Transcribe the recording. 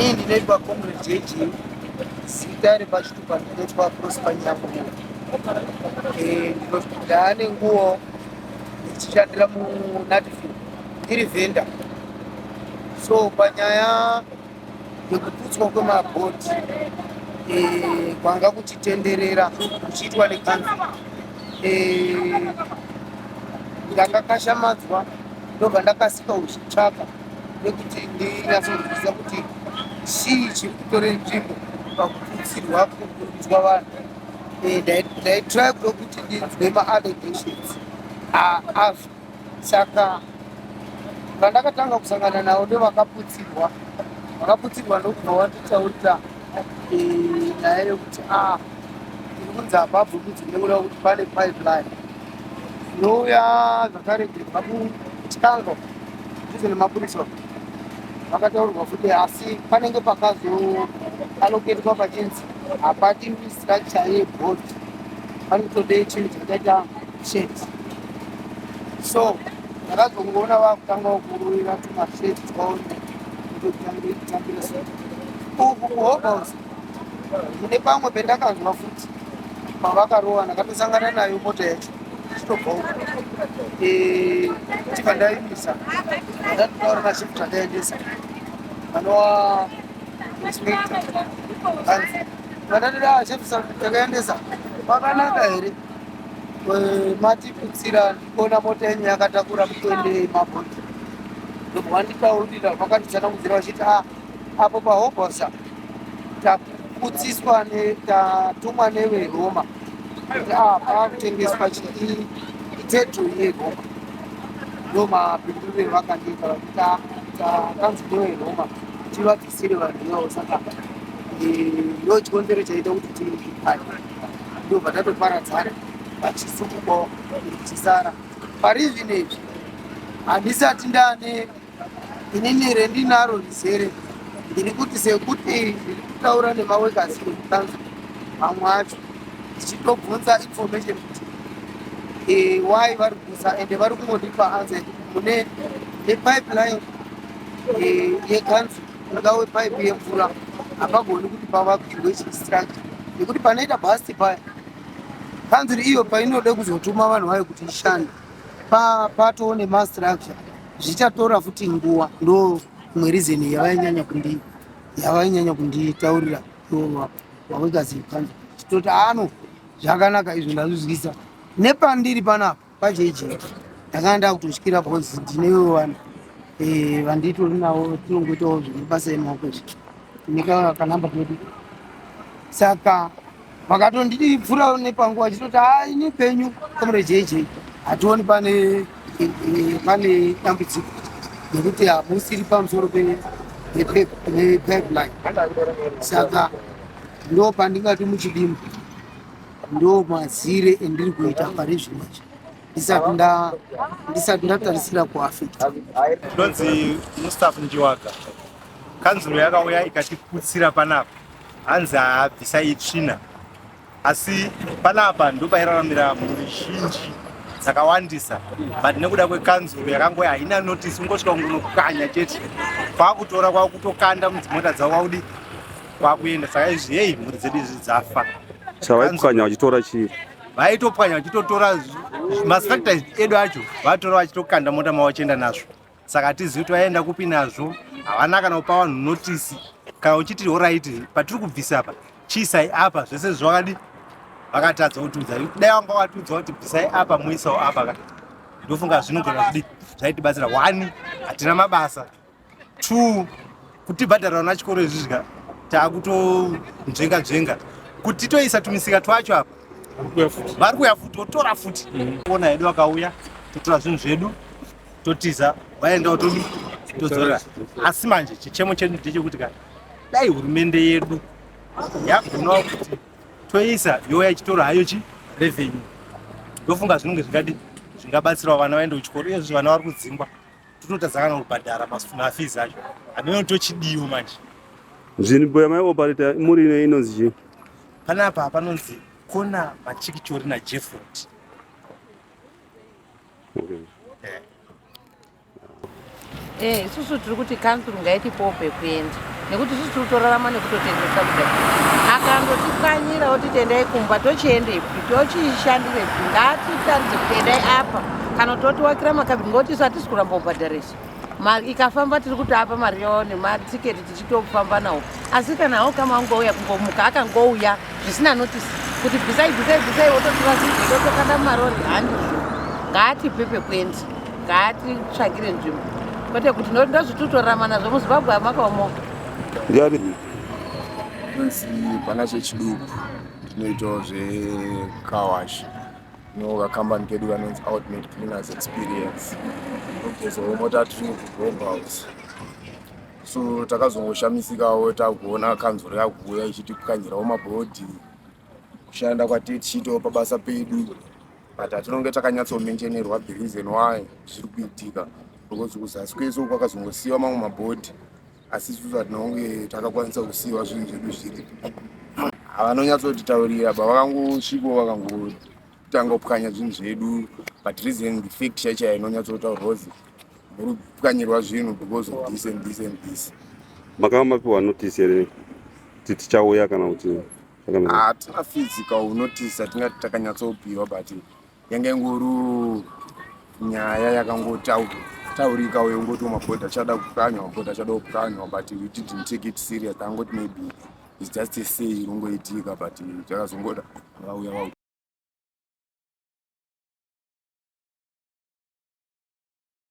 Ini ndinoitwa Comrade JJ zita repachitupa ndinoitwa Prosper Nyakumo eh, ndane nguwo ndichishandira muNatfield ndiri vendor so panyaya nekuputswa kwemabhodhi eh, kwanga kuchitenderera kuchiitwa nekanzi eh, ndanga kashamadzwa ndobva ndakasika uchitsvaka nekuti ndinyatsonzwisisa kuti chii chiri kutore nzvimbo pakuputsirwa kukurudzwa vanhu eh, ndaitry kuda kuti ndinzwe maallegations aazvo Saka vandakatanga kusangana navo ndovakaputsirwa vakaputsirwa ndokubva watotaurira eh, nyaya yekuti a ah, tiri kunzi hapabvi kunzi nekuda kuti pane pipeline inouya zvakare kubva kuchikango ndizo nemapurisa vakataurwa futi asi panenge pakazoaloketwa pachinzi hapadi structure yebhodi panotode chinhu chakaita shirt so ndakazongoona vakutanga kuruvira tumashirt twaone kutotambira so uku kuhobos mune pamwe pendakanzwa futi pavakarova ndakatosangana nayo mota yacho chitobva uku eh, chibva ndaimisa ndatotaura mashift andaendesa anova inspector anzi vandatida chefisa takaendesa pakanaka here matikutsira ndiona mota yenyu yakatakura mutendei mabhoti ndobva wanditaurira vakanditsanangudzira vachiti a ah, apo pahobosa takutsiswa tatumwa neveroma kuti a ah, paakutengeswa chii iteto yeroma ndomapinduriro vakandiita vachiti a ah, takanzi neveroma tivatsi siri vanhu ivavo saka eh, ndo chikonzero chaita kuti tiipane ndobva tatoparadzana vachisukukwawo ndichisara pari zvinezvi handisati ndane inini rendinaro rizere ndiri kuti sekuti ndiri kutaura nemawekasi ekukanza mamwe acho ndichitobvunza information kuti eh, why vari kusa ende vari kungondipa anze mune nepipeline yekanzu ingave paipi yemvura hapagoni kuti pavakirwe chistracture nekuti panoita bhasti paya kanzuri iyo painode kuzotuma vanhu vayo kuti ishande patoo nemastructure zvichatora futi nguva ndo imwe reason yavainyanya kundi yavainyanya kunditaurira wawekazikanzu toti ano zvakanaka izvo ndazvizwisa nepandiri panapa Paje iji ndakanga ndakutotyira because ndinewo vanhu eh, vanditori navo tinongoitawo zvemabasa emaoko izvi ndineka kanamba kedu saka vakatondivhurawo nepanguva chitoti ha ini penyu komre jeje hationi pane eh, eh, pane dambudziko nekuti hamusiri pamusoro pe- pe- pe- pe- pipeline saka ndo pandingati muchidimbu ndo mazire endiri kuita pari zvino ndisati nda ndisati ndatarisira kuafekta ndonzi mustaff njiwaga kanzuro yakauya ikatiputsira panapa hanzi haabvisa itsvina asi panapa ndopairaramira mhuri zhinji dzakawandisa but nekuda kwekanzuro yakangoya haina notice ungosvika kungonokukanya chete kwakutora kwakutokanda mudzimota dzavo kwakudii kwakuenda saka izvi hei mhuri dzedu izvi dzafa chavaipwanya vachitora chii vaitopwanya vachitotora mastructor edu acho vatora vachitokanda mota mavo vachienda nazvo saka hatizivi kuti vaienda kupi nazvo havana kana kupa vanhu notisi kana uchiti horaiti patiri kubvisa apa chiisai apa zvese zvakadi vakatadza kutiudza dai vanga vatiudza kuti bvisai apa moisawo apa ka ndofunga zvinogona zvidi zvaitibatsira wani hatina mabasa two kutibhadhara na chikoro izvi zvika takutonzvenga nzvenga kuti titoisa tumisika twacho apa vari kuya futi votora futi mm. ona hedu vakauya totora zvinhu zvedu totiza vaendawo todi todzora asi manje chichemo chedu ndechekuti ka dai hurumende yedu yagonawo kuti toisa youya ichitora hayo chi revenue ndofunga zvinenge zvingadi zvingabatsirawo vana vaende kuchikoro iyezvi vana vari kudzingwa Tinotadza kana kubhadhara mafees acho. Ameno tochidiwo manje. Nzvimbo yamai operator muri ino inonzi chii? Panapa panonzi Kona Machikichori naJefford. Okay. Eh, isusu tiri kuti council ngaitipowo pekuenda. nekuti sisi tiri kutorarama nekutotengesa kudai akandotikanyira oti tendai kumba tochiendepi tochiishandirepi ngatitaridze kuti endai apa kana kuti otiwakira makabini ngokuti isu hatisi kuramba kubhadharisa ikafamba tiri kuti apa mari yavo nematiketi tichitofamba nawo asi kana awo kama angouya kungomuka akangouya zvisina notisi kuti bvisai bvisai bvisai wototirasizotokanda mumarori handizvo ngaatipe pekuenda ngaatitsvagire nzvimbo kwete kuti ndozvitutorama nazvo muzimbabwe amakaomo ndiani inonzi pana chechiduku tinoitawo zvekawash nova kambani kedu kanonzi outmate cleaners experience kuzomota tiri mukugombhouse so takazongoshamisikawo takuona kanzuro yakuuya ichitipwanyirawo mabhodhi kushanda kwatee tichiitawo pabasa pedu but hatinonge takanyatsomenjenerwa the reason why zviri kuitika because kuzasi kwese uku akazongosiyiwa mamwe mabhodhi asi isusu hatinonge takakwanisa kusiyiwa zvinhu zvedu zviri havanonyatsotitaurira ba vakangosviko vakangotanga kupwanya zvinhu zvedu but reason the fact chaichaya inonyatsotaurwa kuzi muri kupwanyirwa zvinhu because of this and this and this makava mapiwa notice here kuti tichauya kana kuti hatina physical unotice atingati takanyatsopiwa but yange nguru nyaya yakangotaurika uye ungoti mabhodha achada kukanywa mabhodha achada kukanywa but we didn't take it serious tangoti maybe its just a say inongoitika but takazongoda vauya